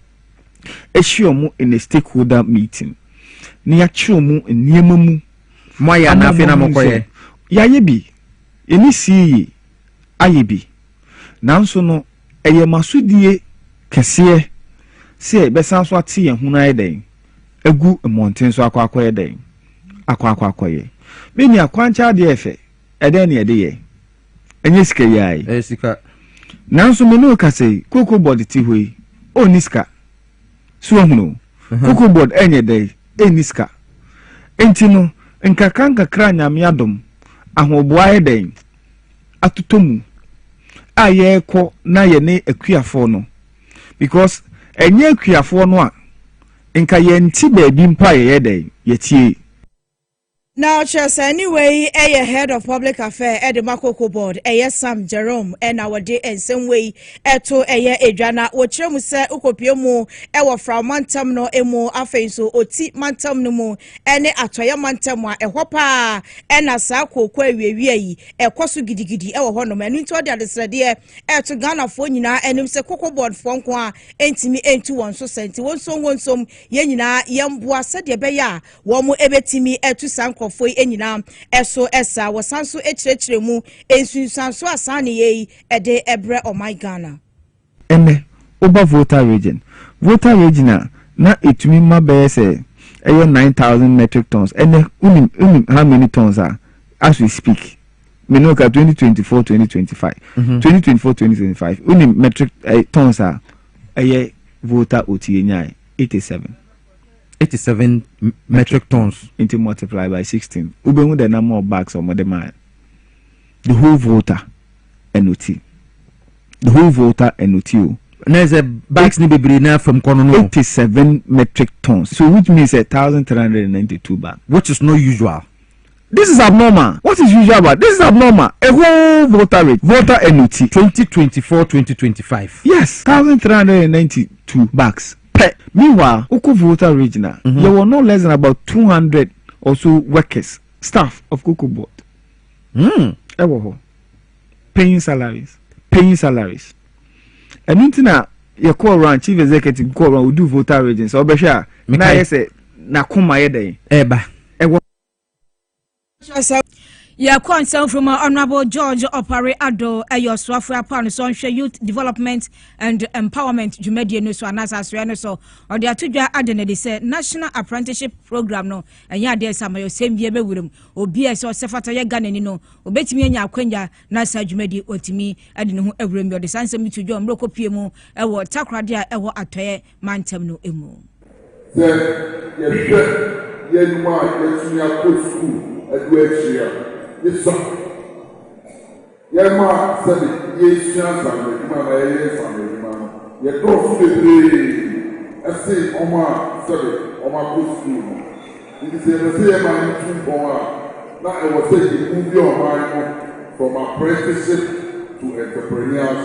Ahyia wɔn in a stakeholder meeting. Ne yɛakyerɛ wɔn nneɛma mu. Mo ayɛ anaa afei na mokɔyɛ? Yɛayɛ bi. Yɛne Siyi ayɛ bi, nanso no ɛyɛ m'asodie kɛseɛ sɛ yɛbɛsan so ate yɛn ho no ayɛ dɛn agu mmɔnten so akɔ akɔyɛ dɛn? Akɔ akɔ akɔyɛ. Me nua, kwankyɛ adeɛ yɛ fɛ, ɛdɛn na yɛde yɛ? Ɛnyɛ sika yi ara yi. Ɛyɛ sika. Nanso me ne wo kasa yi, kooko bɔde te hɔ yi, ɔnni sika. So woahunu? Cocoa board nyɛ dɛ, enni sika. Enti no, nkakrankakra a Nyame adom, ahoboa ayɛ dɛn? atotɔ mu a yɛrekɔ na yɛne akuafoɔ no, because ɛnyɛ akuafoɔ no a, nka yɛnte baabi mpo a yɛyɛ dɛn? Yɛtie. Na ɔkyerɛsɛɛni wei yɛ Head of Public Affairs de ma Cocoa Board, ɛyɛ Sam Jerome na wɔde nsɛm wei to ɛyɛ edwa na wɔkyerɛ mu sɛ wokɔpue mu wɔ Frao mantam no mu, afei nso Oti mantam no mu ne Atɔeɛ mantam a ɛhɔ pa ara na saa kooko awiawia yi kɔ so gidigidi wɔ hɔnom. Ɛno nti ɔde adesrɛdeɛ reto Ghanafoɔ nyinaa anim sɛ Cocoa Board foɔ nko a ntumi ntu wɔn so sa nti wɔnsom wɔnsom yɛn nyinaa yɛmboa sɛdeɛ ɛbɛyɛ a Wɔbetumi atu saa nkurɔfo yi nyinaa so sa. Wɔsan nso kyerɛkyerɛ mu nsunsuanso a saa nneyɛɛ yi de brɛ ɔman Ghana. Ɛnnɛ, woba Volta Region, Volta Region a na ɛtumi ma bɛyɛ sɛ ɛyɛ nine thousand metric tons, ɛnnɛ wonim wonim how many tons a as we speak, me ne wo ka twenty twenty four twenty twenty five, twenty twenty four twenty twenty five, wonim metric eh, tons a ɛyɛ Volta Oti yɛnyae eighty seven. eighty seven metric tons. nti multiply by sixteen wobɛhu the number of bags wɔn de maa the whole volta ɛno ti the whole volta ɛno ti o. na ɛsɛ bags ni bebree na fam kɔ no no. eighty seven metric tons so which means a thousand three hundred and ninety two bags. which is not usual. This is abnormal, what is usual about this is abnormal, a whole voter rate, voter enuti, twenty twenty four, twenty twenty five, yes, thousand three hundred and ninety two bags pɛ, meanwhile wokɔ voter rate no a yɛwɔ no less than about two hundred or so workers, staff of cocoa board ɛwɔ hɔ paying salaries, paying salaries ɛno nti na yɛkɔ around chief executive kɔ around odu voter rate nsa ɔbɛhwɛ a na ayɛ sɛ n'akoma yɛ dɛn ɛba ɛwɔ. yɛkɔ nsɛm from honorable george ɔpare ado ɛyɛ ɔsoafoɔ apa no so ɔnhwɛ youth development and empowerment dwumadie no so anaasɛ asoɛ no so ɔde ato dwa ade no de sɛ national apprenticeship program no ɛnyɛ adeɛ sɛ ama yɛsɛm bia bɛwura mu obi a ɛsɛ ɔsɛ fata yɛ ghanani no ɔbɛtumi anya akwanya na saa dwumadie ɔtumi de ne ho awura mu ɔde saa nsɛm bi to dwa mmerɛkɔ pie mu ɛwɔ takoradi a ɛwɔ atɔɛ mantam no mu. Sɛ yɛhwɛ yɛn mma a wɔatumi akɔ sukuu adu akyiri a, ne sua. Yɛn mma a sɛbe yɛresua nsaanodwuma anaa yɛyɛ nsaanodwuma no, yɛdɔɔso bebree sen wɔn a sɛbe wɔakɔ sukuu no. Enti sɛ yɛpɛ sɛ yɛn mma no tu mpɔn a, na ɛwɔ sɛ yɛbuildi wɔn mind no from apprenticeship to entrepreneurs.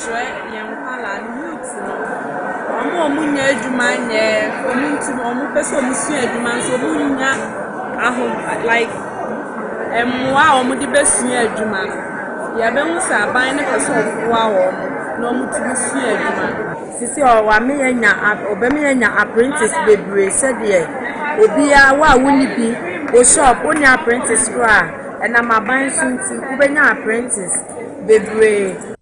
kyerɛ yɛn nkwadaa no, youth no, wɔn a wɔnnya adwuma nyɛ, wɔn nti wɔn pɛ sɛ wɔsua adwuma nso wɔnnya aho like mmoa a wɔde bɛsua adwuma no. Yɛbɛhu sɛ aban no pɛ sɛ ɔboa wɔn na wɔtumi sua adwuma no. Sisi a wɔame yɛnya wɔbɛma yɛnya apprentice bebree sɛdeɛ obiara wo a wonni bi wo shop wonni apprentice koraa ɛnam aban so nti wobɛnya apprentice. bebree.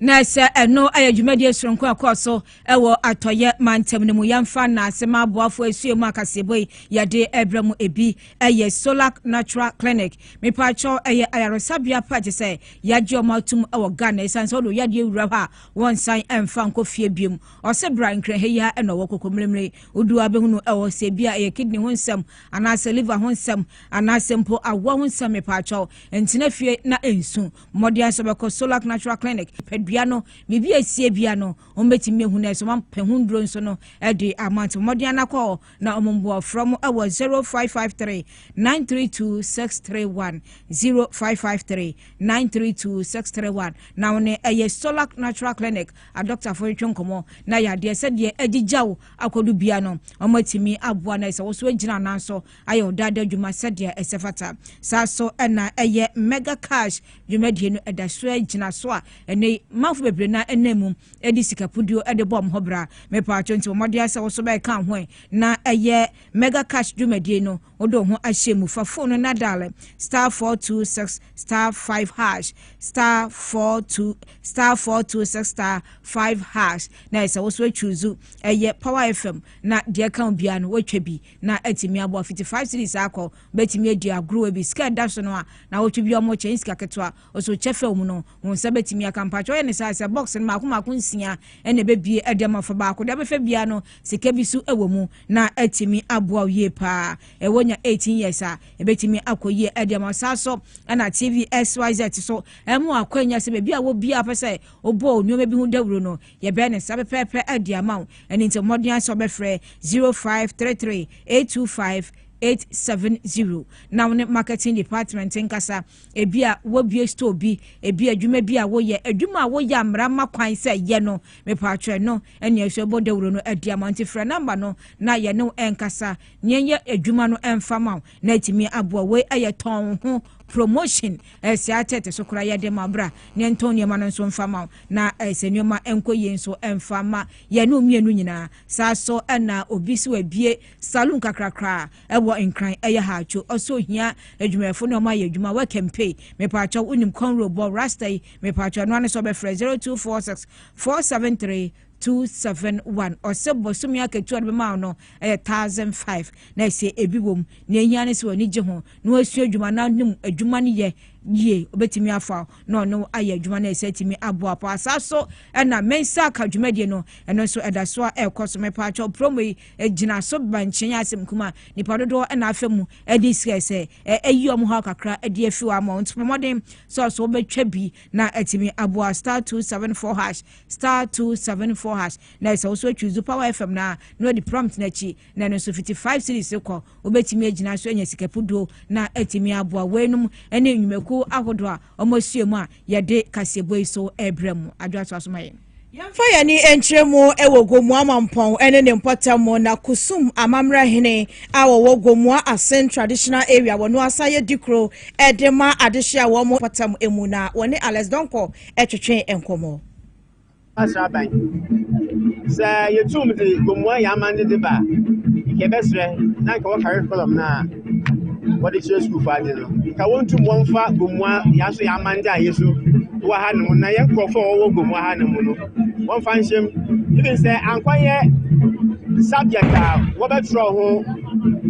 Na sɛ ɛno yɛ dwumadie soronko a ɛkɔɔ so wɔ atɔeɛ mantam no mu. Yɛmfa nnaase ma aboafoɔ ɛsue mu akaseɛbɔ yi yɛde ɛbrɛ mu. Ɛbi yɛ Solac Natural Clinic. Mepaakyɛw, ɛyɛ ayaresabea pa gye sɛ yɛagye wɔn atom wɔ Ghana. Ɛsiane sɛ wode wo yadeɛ wura hɔ a wɔnsan mfa nkɔ fie biom. Ɔse bra Nkrɛhɛ yi ara na ɔwɔ Kokomirimiri. Wodu hɔ a bɛhunu no wɔ hɔ sɛ ɛbi a ɛyɛ kidney ho nsɛm anaasɛ liver ho nsɛm anaasɛ mpo awoɔ ho nsɛm. Mepaakyɛw, Ntena fie na ensu. Mmɔden sɛ ɔbɛkɔ Solac Natural Clinic padua no biribi a esie bia no, wɔn betumi ahu na sɛ wɔn apɛ ho nnuro nso no de ama nti mmɔden ana kɔ hɔ na wɔn mmoa frɛ mo wɔ 0553 932 631 0553 932 631 na wɔn ɛyɛ Solac Natural Clinic adɔktafo retwe nkɔmɔ na yadeɛ sɛdeɛ agyigyaw akɔdo bia no wɔn atumi aboa na sɛ wɔso agyina anan so ayɛ ɔdaada adwuma sɛdeɛ ɛsɛ fata. Saa ara nso na ɛyɛ Mega Cash dwumadie no da so ara gyina so a ɛnnɛ yi manfo bebree no ara nam mu de sika puduo de bɔ wɔn ho bra. Me paatwo nti bɔ mmɔden ara sɛ wo nso bɛka ho ɛ na ɛyɛ Mega Cash dwumadie no wode wo ho ahyɛ mu. Fa fon no na daale star four two six star five hash star four two star four two six star five hash na ɛsɛ wo nso atwuzu ɛyɛ Power FM na deɛ ɛka wo biara no woatwa bi. na atumi aboa fiti five cities akɔ bɛtumi adi agorɔ bi sika ɛda so no a na wɔtwe bi ɔmo kyɛn sika ketewa ɔso kyɛ fɛ mu no wɔn nsa bɛtumi aka mpakyɛ ɔyɛ ne saa sɛ box no mako mako nsia ɛna ɛbɛbie ɛde ama fa baako deɛ bɛfɛ biara no sika bi so ɛwɔ mu na atumi aboa yie paa ɛwɔ nya eighteen years a ɛbɛtumi akɔ yie ɛde ama saa so ɛna tv xyz so ɛmo akwanya sɛ baabi a wɔ biara pɛ sɛ ɔbɔ nneɛma bi ho dawuro no Yɛbɛyɛ ne saa pɛpɛɛpɛ de ama wo. Ɛno nti bɔ mmɔden ara sɛ wobɛfrɛ 0533 825 870 na wo ne marketing department nkasa. Ebi a wobue store bi, ebi adwuma bi a woyɛ, adwuma a woyɛ a mmara ma kwan sɛ yɛ no, mepatwɛ no ɛnea ɛsɛ bɔ dawuro no adi ama nti frɛ namba no na yɛne wo nkasa na yɛnyɛ adwuma no mfa ma wo. na atumi aboa wei ɛyɛ tɔn wo ho promotion ɛsɛ eh, atɛte so koraa yɛde ma bra ne ntɔn nneɛma no nso mfa ma na ɛsɛ eh, nneɛma nkɔ yie nso mfa ma yɛne mmienu nyinaa saa so ɛna obi so abie saloon kakrakra ɛwɔ nkran ɛyɛ ha atwo ɔso hia adwumayɛfo ne ɔma yɛ adwuma wɔkɛmpe mepaakyɛ wonim kɔnro bɔ rasta yi mepaakyɛ ɔno ano sɛ ɔbɛfrɛ 0246 473 two seven one ɔsɛ bɔsɔmi akatua no bɛma no ɛyɛ thousand five na ɛsɛ ebi wɔm na ehia ne sɛ wɔn ani gye ho na wɔasua adwuma na nim adwuma no yɛ yie obetumi afa na ɔno ayɛ adwuma no ɛsɛ tumi aboa pa saa so ɛna mensa aka dwumadie no ɛno nso ɛda so a ɛrekɔ so mepa atwa promo yi gyina so ba nkyɛn asɛm kuma nipa dodoɔ ɛna afɛ mu ɛde sika sɛ ɛyi wɔn hɔ kakra ɛde afi wɔn ama wɔn nso pɔmɔden sɛ ɔso wɔbɛtwa bi na ɛtumi aboa star two seven four hash star two seven four hash na ɛsɛ woso atwizu power fm na na ɔdi prompt n'akyi na ɛno nso fiti five series kɔ wobɛtumi agyina so anya sikapuduo na atumi aboa weinom ne nnwumakuo ahodoɔ a wɔasua mu a yɛde kaseɛbɔ yi so ɛbrɛ mu adwoa so asoma yɛ yɛmfa yɛn ani nkyerɛ mu wɔ gomoa mampɔn ne ne mpɔtam mu na kusum amammerɛ hene a wɔwɔ gomoa asen traditional area wɔn asan yɛ dikuro de ma adehye a wɔn mpɔtam mu na wɔne alex donko twetwe nkɔmmɔ. Sraban. Sɛ yetum dze Gomoa yɛ amandze dze ba a, nka yɛbɛserɛ na nka wɔ curriculum no a wɔdze kyerɛ skuulfo adze no, nka wontum wɔmfa Gomoa yɛ so yɛ amandze a yesu wɔ ha no mu na hɛn nkorɔfo a wɔwɔ Gomoa ha no mu no wɔmfa nhyɛ mu. Even sɛ Ankwa yɛ subject a wɔbɛtwerɛ ho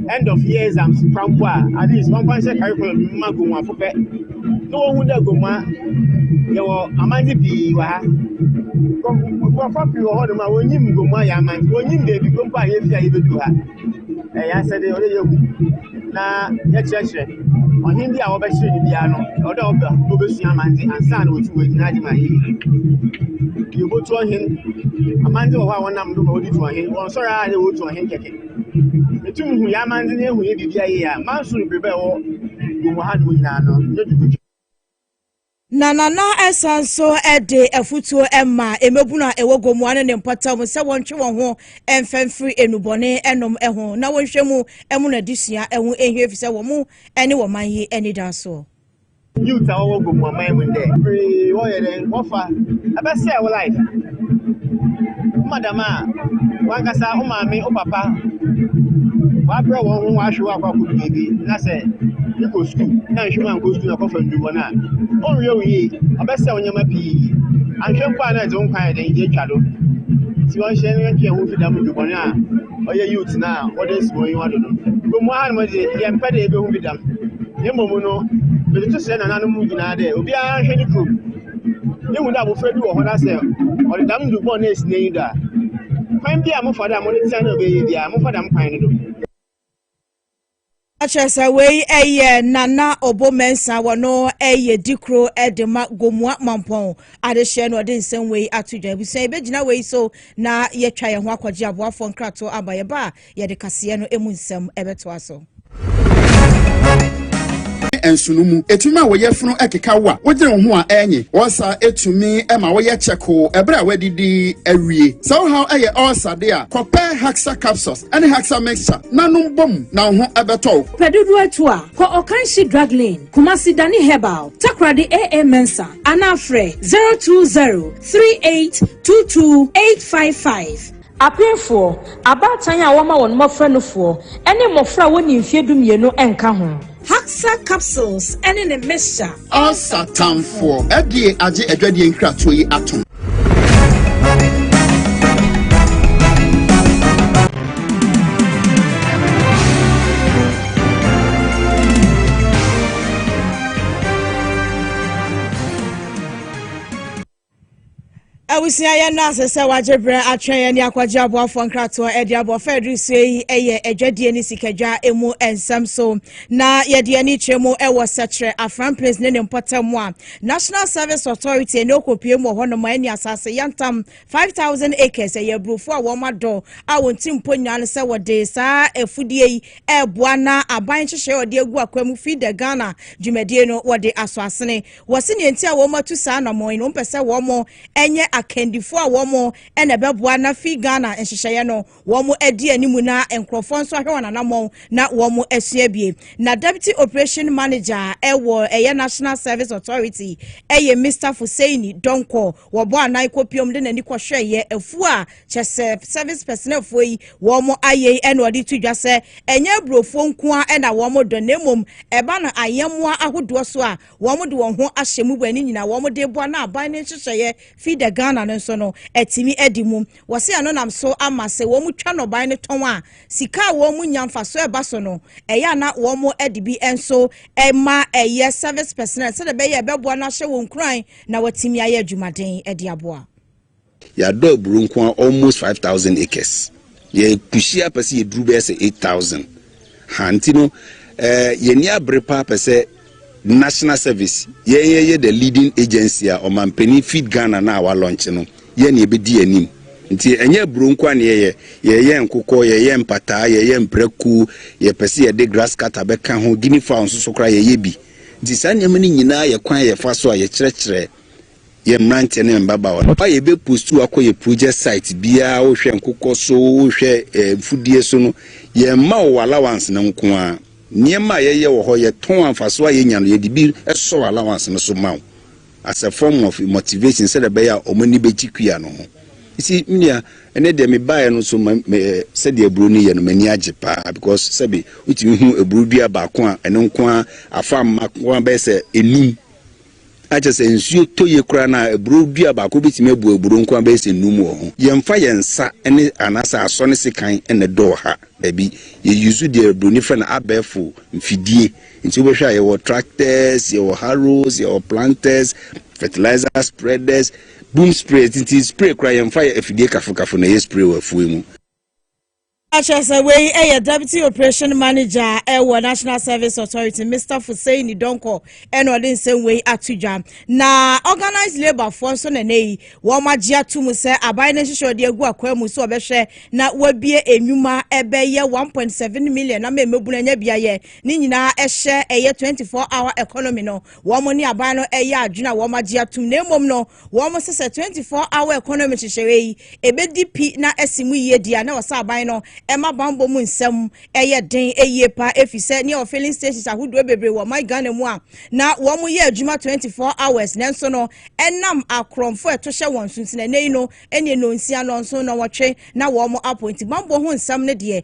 end of year exams kora mpo a, at least wɔmfa nhyɛ curriculum no mu mma Gomoafo pɛ. na wɔhu dɛ Gomoa yɛwɔ amandze pii wɔ ha. Nkorɔfo pii wɔ hɔnom a wonnyim Gomoa yɛ amandze, wonnyim beebi kor mpo a yefi a yebedur ha. Ɛyɛ asɛdze ɔwɔ dɛ yehu na yɛkyerɛkyerɛ. Ɔhen bi a wɔbɛkyer no biara no, ɔwɔ dɛ ɔba na obesua amandze ansaana oetum oedzi n'adze ma ayɛ yie. Yebotu ɔhen, amandze wɔ hɔ a wɔnam do ma wɔdze tu ɔhen, wɔnnsɔr ara na wotu ɔhen kɛkɛ. Etum hu yɛn amandze na ehu yɛn biribiara yie a, Mansoor mbreba a ɛwɔ wɔ mu ha no mu nyinaa no, nyɛ biribi ketewa. Na Nana san nso de afotuo ma mmabunu a ɛwɔ Gomoa ne ne mpɔtam sɛ wɔntwe wɔn ho mfa mfiri nnubɔne nom ho na wɔnhwɛ mu mmoro n'adesua ho nhia ɛfiri sɛ wɔn ne wɔn man yi anidasoɔ. Youth a wɔwɔ Gomu aman mu ndɛ beberee wɔyɛ dɛ wɔfa ɛbɛsɛɛ wo life. Ɔma dɛm a, wankasa wo maame, wo papa wɔabrɛ wɔn ho wɔahwe wo akɔ akɔdu baabi na sɛ ekɔ sukuu na nhwɛ mu ankɔ sukuu na kɔfa nnuru bɔn a, ɔnhwɛ wo yie, ɔbɛsɛɛ wo nneɛma pii. Anhwɛ mpo a na ɛdze wo nkwa ayɛ dɛn, edze etwa do. Ntsi wɔnhyɛ yɛntwe hɛn ho mfi dɛm nnuru bɔn a. ɔyɛ youth no a wɔde asi wɔn enyiwa do no. Mbom hɔ ara no dze, yɛmmpɛ dɛ yebohu bi dɛm. Na mbom no, medze tosrɛ nananom nyina dɛ obiara nhwɛ ne kurom. Yehu dɛ abofra bi wɔ hɔ na sɛ ɔde dɛm ndur bɔn no esi n'enyi do a, kwan biara a mofa do a modze tsea no a obeye biara, momfa dɛm kwan no do. Na kyerɛ sɛ wei yɛ Nana Obo Mensah a wɔno yɛ dikuro de ma Gomoa Mampɔn adehyeɛ na ɔde nsɛm wei ato dwa. Abusua yɛbɛgyina wei so na yɛatwa yɛn ho akɔgye aboafoɔ nkratoɔ aba. Yɛba a yɛde kaseɛ no mu nsɛm bɛtoa so. nsono mu. Etumi ma wo yafunu keka wo a wodwene wo ho a ɛnye. Ɔsa etumi ma woyɛ kyɛkoo ɛberɛ a wadidi awie. Sɛ wo haw yɛ ɔsa de a, kɔpɛ Haxa capsules. ɛne Haxa mixture na nom bɔ mu na wo ho ɛbɛtɔ wo. Pɛ dodoɔ atu a, kɔ Ɔkanhye Drug Lane, Kumasi Dani Herbal, Takoradi AA Mensah anaa frɛ 020 3822 855. Apenfoɔ, abaatan a wɔma wɔn mmɔfra nufoɔ, ne mmɔfra a wɔnni mfeɛ dumienu nka ho. Haxa capsules ne ne mixture. Ansa tamfoɔ ɛdeɛ agye adwadeɛ nkratoɔ yi atom. Abusua yɛn no asɛ sɛ wagye berɛ atwɛn yɛn ne akɔgye aboafoɔ nkratoɔ de aboa fa aduru soɔ yi yɛ adwadie ne sikadwa mu nsɛm so na yɛde ani kyerɛ mu wɔ sɛkyerɛ afran place ne ne mpɔtam mu a National Service Authority ɛne ɔkɔpie mu wɔ hɔ nom a ɛne asase yɛntam 5000 acres ɛyɛ aburofoɔ a wɔn adɔ a wɔn ti mpo nyaa no sɛ wɔde saa afudie yi ɛreboa na aban nhyehyɛ ɔde agu akwa mu fi the Ghana dwumadie no wɔde aso asene Wɔse nea nti a wɔatu saa anamɔn yi no, wɔmpɛ sɛ wɔnyɛ akandifoɔ a wɔn na ɛbɛboa na fi Ghana nhyehyɛeɛ no wɔn adi anim na nkurɔfoɔ nso ahwɛ wɔn anamɔn na wɔn asua bie. Na Deputy Operation Manager ɛwɔ ɛyɛ National Service Authority ɛyɛ Mister Foseini Donkɔ wɔbɔ anan kɔpiom de n'ani kɔhwɛeɛ afuo a kyɛsɛ service personelfoɔ yi wɔn ayɛ yi ɛna ɔde to dwa sɛ ɛnyɛ aburofoɔ nkoa ɛna wɔn dɔ na mmom ɛba no ayɛmmoa ahodoɔ so a wɔde wɔn ho ahyɛ mu bɔ ani nyinaa wɔde boa na aban no nhyehyɛeɛ Feed the Ghana no nso no atumi adi mu. Wɔse ɛno nam so ama sɛ wɔtwa nnɔbae no tɔn a, sika a wɔnya mfasoɔ ɛba so no, ɛyɛ a na wɔde bi nso ma ɛyɛ service personnel sɛdeɛ ɛbɛyɛ ɛbɛboa no ahyɛ wɔn nkuran na wɔatumi ayɛ adwumaden de aboa. Yɛadɔ aburo nko ara almost five thousand acres. Yɛ pushie a pɛ sɛ yɛduru bɛyɛ sɛ eight thousand. Ha nti no eh, yɛn ani abere paa pɛ sɛ national service yɛn yɛyɛ the leading agency a ɔmampanin feed Ghana no a walɔnkye no yɛn na yɛbɛdi anim. Nti ɛnyɛ aburo nko ara na yɛyɛ, yɛyɛ nkokɔ, yɛyɛ mpataa, yɛyɛ mprako, yɛpɛ sɛ yɛde grass cutter bɛka ho, guinea fowl nso so koraa yɛyɛ bi. Nti saa nneɛma no nyinaa yɛ kwan a yɛfa so a yɛkyerɛkyerɛ yɛ mmeranteɛ ne mmabaawa no a yɛbɛ post wo akɔ yɛ project site biara wohwɛ nkokɔ so wohwɛ eh, mfudie so no yɛmma wo allowance no nko a nneɛma a yɛyɛ wɔ hɔ yɛtɔn amfaso a yɛnya no yɛde bi sɔ allowance no so ma wo as a form of motivation sɛdeɛ ɛbɛyɛ a wɔn ani bɛgye kua no ho si menua ɛnɛ deɛ mebaeɛ no so eh, sɛdeɛ aburo no yɛ no m'ani agye paa because sɛbe wotumi hu aburo dua baako a ɛno nko a afa mma ko a bɛyɛ sɛ enum Na kyerɛ sɛ nsuo tɔ yie koraa no a, aburoo dua baako bɛtumi abu aburoo nko ara bɛyɛ sɛ nnum wɔ ho. Yɛmfa yɛn nsa ne anaasɛ asɔ ne sekan na ɛdɔɔ ha. Dabi. Yɛ use deɛ buroni frɛ no abɛɛfo mfidie. Nti wobɛhwɛ a yɛwɔ tractors, yɛwɔ harrows, yɛwɔ planters, fertilizer spreaders, boom sprayers, nti spray koraa yɛmfa yɛ afidie kafo kafo na yɛ spray wɔ afuo yi mu. Ɔka kyerɛ sɛ wei yɛ Deputy Operation Manager a ɛwɔ National Service Authority Mr Fuseini Donkor ɛna ɔde nsɛm wei ato dwa na Organised Labour foɔ nso na ɛnɛ yi wɔn agye ato mu sɛ aban no nhyehyɛ ɔde agu akwan mu so ɔbɛhwɛ na wabie enwuma ɛbɛyɛ 1.7 million na mmɛmɛbunu anya biayɛ ne nyinaa ɛhyɛ ɛyɛ 24 hour economy no wɔn ne aban no ɛyɛ adwene a wɔn agye atum na mmom no wɔn sɛ sɛ 24 hour economy hyehyɛeɛ yi ebedi pi na ɛsi mu yie di a na ɔsɛ aban no ɛma bambɔ mu nsɛm ɛyɛ den yie pa efi sɛ ne ɔwɔ filling stations ahodoɔ bebree wɔ ɔman Ghana mu a na wɔn yɛ adwuma 24 hours nanso no ɛnam akorɔmfo ɛto hyɛ wɔn so nti na ɛnɛ yi no ɛne nonsia nɔnso nɔnwɔtwe na wɔn apɔ nti bambɔ ho nsɛm no deɛ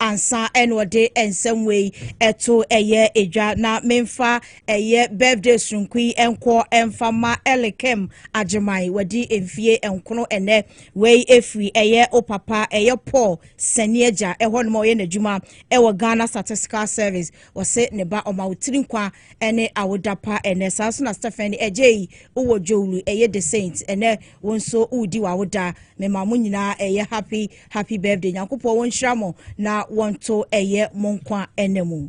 ansa ɛna ɔde nsɛm wei ɛto ɛyɛ edwa na menfa ɛyɛ birthday soronko yi ɛnkɔ ɛnfa ma ɛlekem agyeman wadi mfie nkono ɛnɛ wei efiri ɛyɛ o papa ɛyɛ paul sani agya ɛhɔ nom ɔyɛ n'adwuma ɛwɔ ghana statistical service wɔse ne ba ɔma wotiri nkwa ɛne awoda pa ɛnɛ saa so na stephen ɛgye yi wɔ jowlu ɛyɛ the saint ɛnɛ wo nso wodi wawoda mema mo nyinaa ɛyɛ happy Happy birthday. Nyankopɔn wo nhyira mo na wɔnto ɛyɛ mo nkwa ɛna mu.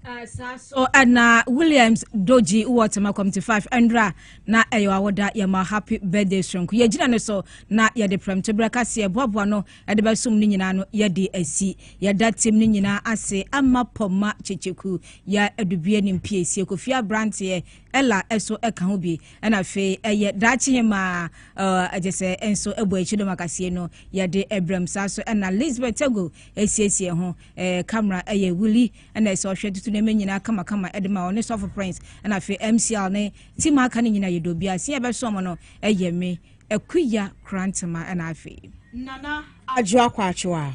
Uh, saa so ɛna uh, williams doji wɔ tema committee five ɛnra na ɛyɛ eh, awoda yɛma happy birthday soronko yɛgyina ne so na yɛde prɛmto berɛ kaseɛ boaboa no ɛde bɛsom no nyinaa no yɛde asi yɛda tim no nyinaa ase ama pɔma kyekyeku yɛ adubie ne mpiesie kofie aberanteɛ ɛla ɛso ɛka ho bi ɛna afei ɛyɛ daakye hemaa ɛgye sɛ nso ɛbɔ akyi dɔm akaseɛ no yɛde ɛbrɛm saa so ɛna lisbeth tago ɛsiesie ho ɛɛ camera ɛyɛ wuli ɛna ɛsɛ ɔhwɛ tutu nneɛma nyinaa kamakama ɛde ma ɔne sɔfo prince ɛna afei mcl ne tim aka ne nyinaa yɛ dobi aseɛ ɛbɛso ɔmo no ɛyɛ me ɛkuya krantema ɛna afei nana adwo akɔ atwo a